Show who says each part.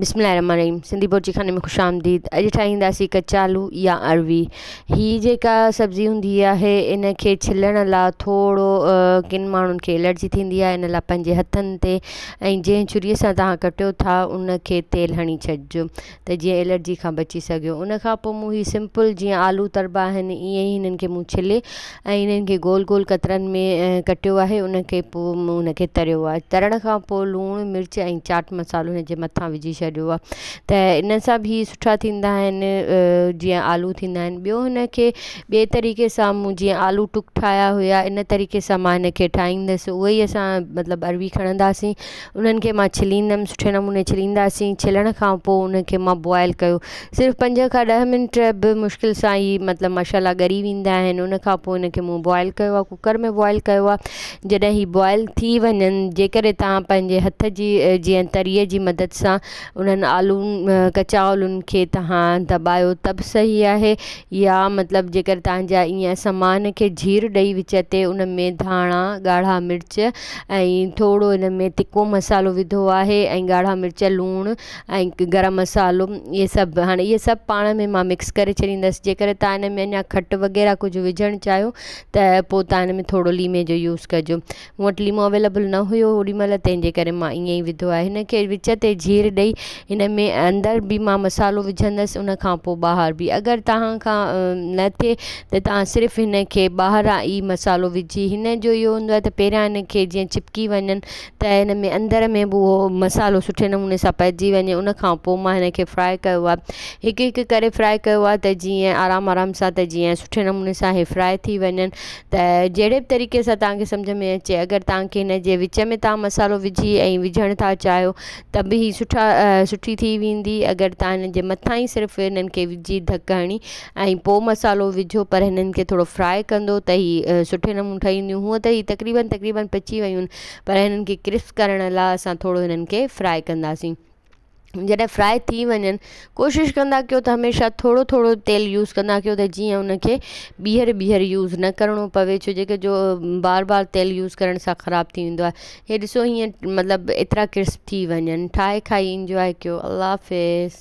Speaker 1: بسم الله الرحمٰن الرحيم سنڌي بورچي خاني ۾ خوش آمديد اڄ ٺاهينداسين ڪچالو يا اروي هي جيڪا سبزي هوندي آهي ان کي ڇلڻ لا ٿورو ڪن ماڻهن کي الرجي ٿيندي آهي ان لا پنهنجي هٿن تي ۽ جنهن ڇري سان تهان ڪٽيو ٿا ان کي تيل هڻي ڇڏجو ته جيئن الرجي کان بچي سگهيو ان کان پوء مون هي سمپل جيئن آلو تربا آهن ايئن ئي هنن کي مون ڇلي ۽ انهن کي گول گول قطرن ۾ ڪٽيو آهي ان کي پوء مون ان کي تريو آهي ترڻ کان پوء لوڻ مرچ ۽ چاٽ مصالحو ان جي مٿان وجهي ڇڏيو آهي ته ان سان به هي سٺا ٿيندا آهن جيئن آلو ٿيندا آهن ٻيو هن کي ٻئي طريقي سان مون جيئن آلو ٽڪ ٺاهيا هيا ان طريقي سان مان هن کي ٺاهيندس اهو ئي اسان مطلب اروي کڻنداسين انهن کي مان ڇليندم سٺي نموني ڇلينداسين ڇلڻ کان پوء انهن کي مان بوائل ڪيو صرف پنج کان ڏهه منٽ به مشڪل سان ئي مطلب ماشاءالله ڳري ويندا آهن ان کان پوء انهن کي مون بوائل ڪيو آهي ڪوڪر ۾ بوائل ڪيو آهي جڏهن هي بوائل ٿي وڃن جيڪڏهن توهان پنهنجي هٿ جي جيئن تريء جي مدد سان انهن آلون ڪچا آلون کي توهان دٻايو ته به صحيح آهي يا مطلب جيڪر توهان جا ائين سامان کي جهير ڏئي وچ تي ان ۾ ڌاڻا ڳاڙها مرچ ۽ ٿورو ان ۾ تکو مصالحو وڌو آهي ۽ ڳاڙها مرچ لوڻ ۽ گرم مصالحو اهي سڀ هاڻي اهي سڀ پاڻ ۾ مان مڪس ڪري ڇڏيندس جي ڪري تان ان ۾ اڃا کٽ وغيره ڪجهه وجهڻ چاهيو ته پو تان ان ۾ ٿورو ليمي جو يوز ڪجو مون وٽ ليمو اويلبل نه هيو اوڏي مهل تنهن جي ڪري مان ائين ئي وڌو آهي هن کي وچ تي جير ڏئي هن ۾ اندر به مان مصالحو وجهندس ان کان پو ٻاهر به اگر توهان کان نه ٿئي ته توهان صرف هن کي ٻاهران ئي مصالحو وجهي هن جو اهو هوندو آهي ته پهريان هن کي جيئن چپڪي وڃن ته هن ۾ اندر ۾ به اهو مصالحو سٺي نموني سان پئجي وڃي ان کان پوء مان هن کي فرائي ڪيو آهي هڪ هڪ ڪري فرائي ڪيو آهي ته جيئن آرام آرام سان ته جيئن سٺي نموني سان هي فرائي ٿي وڃن ته جهڙي به طريقي سان توهان کي سمجهه ۾ اچي اگر توهان کي هن جي وچ ۾ توهان مصالحو وجهي ۽ وجهڻ ٿا چاهيو ته به هي سٺا سٺي ٿي ويندي اگر توهان هن جي مٿان ئي صرف هنن کي وجهي ڌڪ هڻي ۽ پوء مصالحو وجهو پر هنن کي ٿورو فرائي ڪندو ته هي سٺي نموني ٺهي وينديون هونء ته هي تقريبن تقريبن پچي ويون پر هنن کي ڪرسپ ڪرڻ لا اسان ٿورو هنن کي فرائي ڪنداسين جڏهن فرائي ٿي وڃن ڪوشش ڪندا ڪيو ته هميشه ٿورو ٿورو تيل يوز ڪندا ڪيو ته جيئن ان کي ٻيهر ٻيهر يوز نه ڪرڻو پوي ڇو جيڪي جو بار بار تيل يوز ڪرڻ سان خراب ٿي ويندو آهي هي ڏسو هيئن مطلب ايترا ڪرسپ ٿي وڃن ٺاهي کائي انجوائي ڪيو الله حافظ